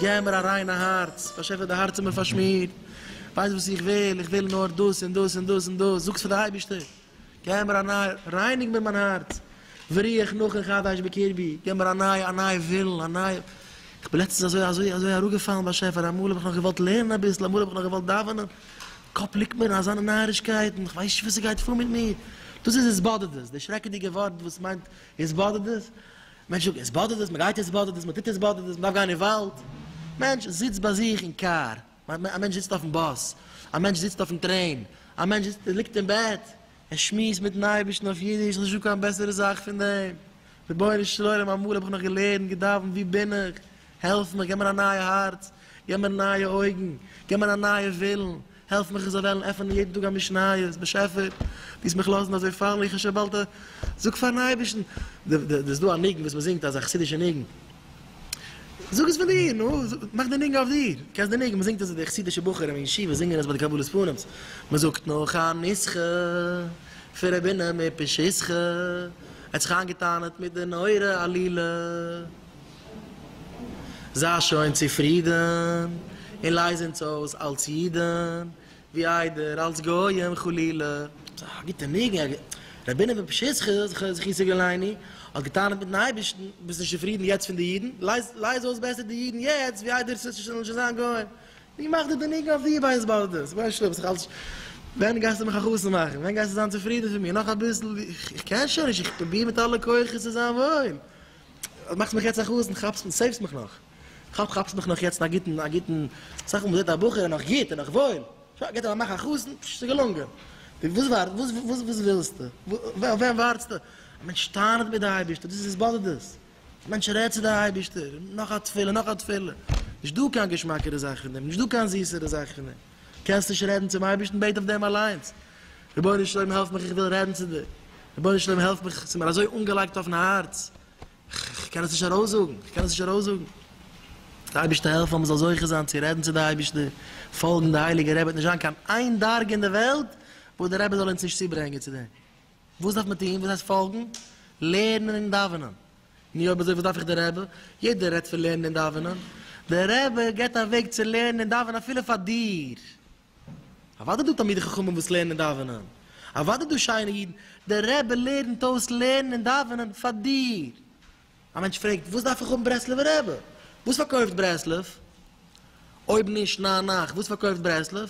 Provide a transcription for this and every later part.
געב מיר א ריינע הארץ, באשעפער די הארץ איז מיר פארשמירט, ווייסט וואס איך וויל, איך וויל נאר דאס און דאס און דאס און דאס, זאגטס פאר די אייבערשטער. געב מיר א נייע, רייניג מיר מיין הארץ, וריח נחה חדש בקרבי, געב מיר א נייע, א נייע ווילן, א נייע, איך בין לעצטנס אזוי, אזוי, אזוי אראפגעפאלן באשעפער, אמאל האב איך נאך געוואלט לערנען אביסל, אמאל האב איך נאך געוואלט דאווענען, קאפ ליגט מיר אין אזאנע נארישקייטן, איך ווייס נישט וואס ס'גייט פאר מיט מיר, דאס איז התבודדות, די שרעקעדיגע ווארט וואס מיינט התבודדות, מענטש זאגט התבודדות, מ'גייט התבודדות, מ'טוט התבודדות, מ'דארף גיין אין וואלד, מענטש זיצט ביי זיך אין קאר, א מענטש זיצט אויפן באס, א מענטש זיצט אויפן טרעין, א מענטש זיצט, ליגט אין בעט, ער שמועסט מיטן אייבערשטן אויף אידיש, ס'איז נישטא קיין בעסערע זאך פון דעם, רבונו של עולם אמאל האב איך נאך געלערנט, געדאווענט, וואו בין איך, העלף מיך, געב מיר א נייע הארץ, געב מיר נייע אויגן, געב מיר א נייע ווילן, העלף מיך איך זאל וועלן עפענען יעדן טאג א משניות, באשעפער, דו זאלסט מיך לאזן אזוי פאלן, איך האב שוין באלד א, זאג פארן אייבערשטן, דא איז דא א ניגון וואס מ'זינגט, אזא חסידישע ניגון. זאג עס פון דיר, נו, מאך די ניגון אויף דיר, קענסט די ניגון, מען זינגט עס, די חסידישע בחורים אין ישיבה זינגען עס ביי די קבלת פנים'ס, מען זאגט נאך א נוסחא פון רבינו מפשיסחא, ער האט זיך איינגעטענה'ט מיט די נורא עלילה, זיי שוין צופרידן און לייז אונז אויס אלס אידן, ווי איידער אלס גויים חלילה. ס'איז א גוטע ניגון, א גוט. רבינו פון פשיסחא זכר זיך יציל געלייני האט געטענה'ט מיטן אייבערשטן, ביסט נישט צופרידן יעצט פון די אידן, לייז לייז אויס בעסער די אידן יעצט ווי איידער ס'זאל נישט זאלן נישט זיין גויים. ווי מאכט דיר די ניגון אויף די בית בארדעס? ווייסט שלא ביסט אלס ווען גייסטו מיך א חתן מאכן? ווען גייסטו זיין צופרידן פון מיר? נאך אביסל ווי איך קען שוין נישט, איך פרוביר מיט אלע כוחות צו זיין וואויל, מאכסט מיך יעצט א חתן, כאפסט מיך, סעיוו'סט מיך נאך. כאפ כאפסט מיך נאך יעצט א גוטן א גוטן סך הכל מ'זעט א בחור איז נאך גוט איז נאך וואויל שוין געט ער א מאך א חתן פשש ס'איז געלונגען די וואס ווארט וואס וואס וואס ווילסטו אויף וועם ווארטסטו א מענטש טענה'ט מיט די אייבערשטער דאס איז עס באדערט דאס א מענטש רעדט צו די אייבערשטער נאך א תפילה נאך א תפילה נישט דא קיין געשמאקערע זאך אין דעם נישט דא קיין זיסערע זאך אין דעם קענסט נישט רעדן צום אייבערשטן בעט אויף דעם אליינס רבונו של עולם העלף מיך איך וויל רעדן צו דיר רבונו של עולם העלף מיך ס'איז מיר אזוי אנגעלייגט אויפן הארץ כ'קען עס נישט ארויסזאגן, כ'קען עס נישט ארויסזאגן. דער אייבערשטער העלפן אז מ'זאל זוכה זיין צו רעדן צו דער אייבערשטער, פאלגן די הייליגע רבי, וועט נישט זיין קיין איין דרגה אין דער וועלט וואס דער רבי זאל אונז נישט צוברענגען צו דעם. וואס דארף מען טון? וואס הייסט פאלגן? לערנען און דאווענען. נו אויב אזוי וואס דארף איך דער רבי? יעדער רעדט פון לערנען און דאווענען, דער רבי גיבט א וועג צו לערנען און דאווענען אפילו פאר דיר. אוודאי דא תלמידי חכמים וואס לערנען און דאווענען, אוודאי דא שיינע אידן, דער רבי לערנט אויס לערנען און דאווענען פאר דיר. א מענטש פרעגט, וואס דארף איך האבן ברסלב'ע רבי? וואס פארקויפט ברסלב? אויב נישט ניין נייך, וואס פארקויפט ברסלב?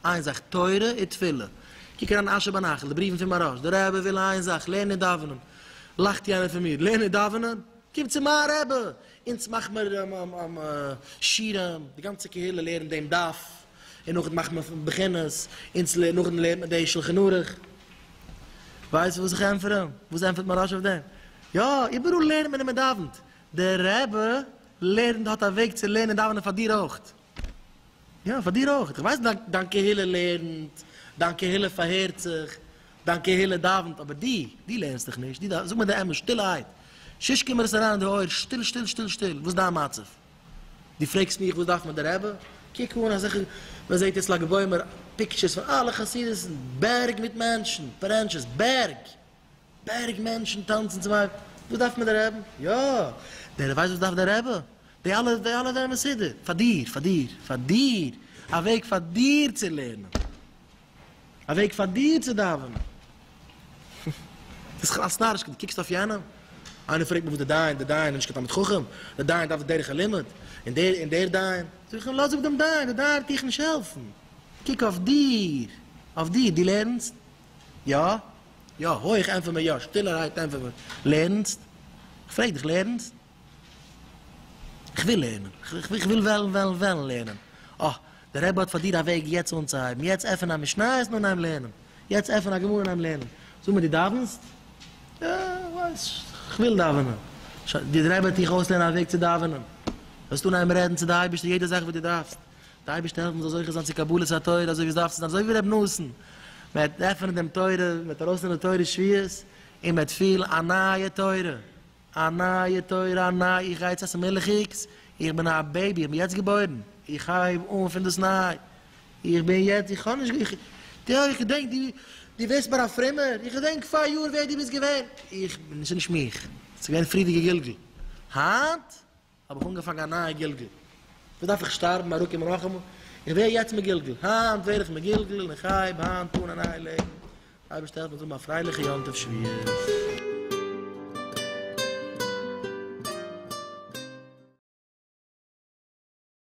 איין זאך, תורה און תפילה. קוק אריין אין אשר בנחל, די בריוון פון מהרש, דער רבי וויל איין זאך, לערנען און דאווענען. לאכט יענער פון מיר, לערנען און דאווענען? קום צו מיין רבי! אונז מאכמער שירעם, די גאנצע קהילה לערנט דעם דף. און נאכדעם מאכט מען בחינות, אונז לערנט נאכדעם לערנט מען די שלחן ערוך. ווייסט וואס איך ענטפער אים? וואס ענטפערט מהרש א אויף דעם? יא, איבעראל לערנט מען און מען דאווענט. דער רבי לערנט האט א וועג צו לערנען און דאווענען פאר דיר אויך. יא, פאר דיר אויך. איך ווייס דיין דיין קהילה לערנט, דיין קהילה פארהערט זיך, דיין קהילה דאווענט, אבער דו, דו לערנסט דיך נישט, דו דאווענסט. זאג מיר די אמת, שטילערהייט, ששש קום מיר עס אריין אין די אויער, שטיל שטיל שטיל שטיל, וואס איז דיין מצב? דו פרעגסט מיך וואס דארף מיר די רבי? קוק אן אזעלכע, מען זעט אצל לג בעומר פיקטשערס פון אלע חסידות'ן, בערג מיט מענטשן, פארענטשעס, בערג! בערג מענטשן טאנצן צום אייבערשטן, וואס דארף מיר די רבי? יא! דער ווייסט וואס דארף די רבי? די אלע די אלע זענען מסודר פאר דיר, פאר דיר, פאר דיר! א וועג פאר דיר צו לערנען! א וועג פאר דיר צו דאווענען. ביסט כלאס נאריש, דו קוקסט אויף יענעם, איינער פרעגט מיר וואס דער דיין, דער דיין איז נישט קיין תלמיד חכם, דער דיין דארף דרך הלימוד, און דער און דער דיין, זאג איך אים לאז אפ דעם דיין, דער דיין וועט דיך נישט העלפן, קוק אויף דיר, אויף דיר, דו לערנסט? יא? יא, הויך ענטפער מיר יא, שטילערהייט ענטפער מיר, לערנסט? איך פרעג דיך, לערנסט? כ'וויל לערנען. כ'וויל וועלן וועלן וועלן לערנען. אה, דער רבי האט פאר דיר א וועג יעצט אנצוהייבן. יעצט עפן א משניות און אנהייבן לערנען. יעצט עפן א גמרא און אנהייבן לערנען. זאג מיר, דו דאווענסט? יא, כ'ווייס, כ'וויל דאווענען. שוין, דער רבי וועט דיך אויסלערנען א וועג צו דאווענען. דו וועסט אנהייבן רעדן צו די אייבערשטער יעדע זאך וואס דו דארפסט. די אייבערשטער העלפן זאלסט זוכה זיין צו קבלת התורה אזוי ווי עס דארף צו זיין. אזוי ווי ר' נתן. מען וועט עפענען דעם תורה, מען וועט ארויסלערנען תורת שביעות, און מען וועט פילן א נייע תורה. א נייע תורה, א ניי איך גיי צו מילכיגס, איך בין א בעיבי, איך בין יעצט געבוירן, איך הייב אן פונדאסניי, איך בין יעצט, איך האב נישט, איך, די, איך געדענק די, די ווערסט מיר א פרומער, איך געדענק פאריאר ווער די ביסט געווען, איך, ס'נישט מיך, ס'געווען פריערדיגע גלגול, היינט. האב איך אנגעפאנגען א נייע גלגול, וואס דארף איך שטארבן אלקים הרחמו, איך ווער יעצט מגולגל, היינט ווער איך מגולגל און איך הייב היינט אן א נייע לעבן, אייבערשטער העלף מיר זאל האבן א פרייליכע יום טוב שביעית.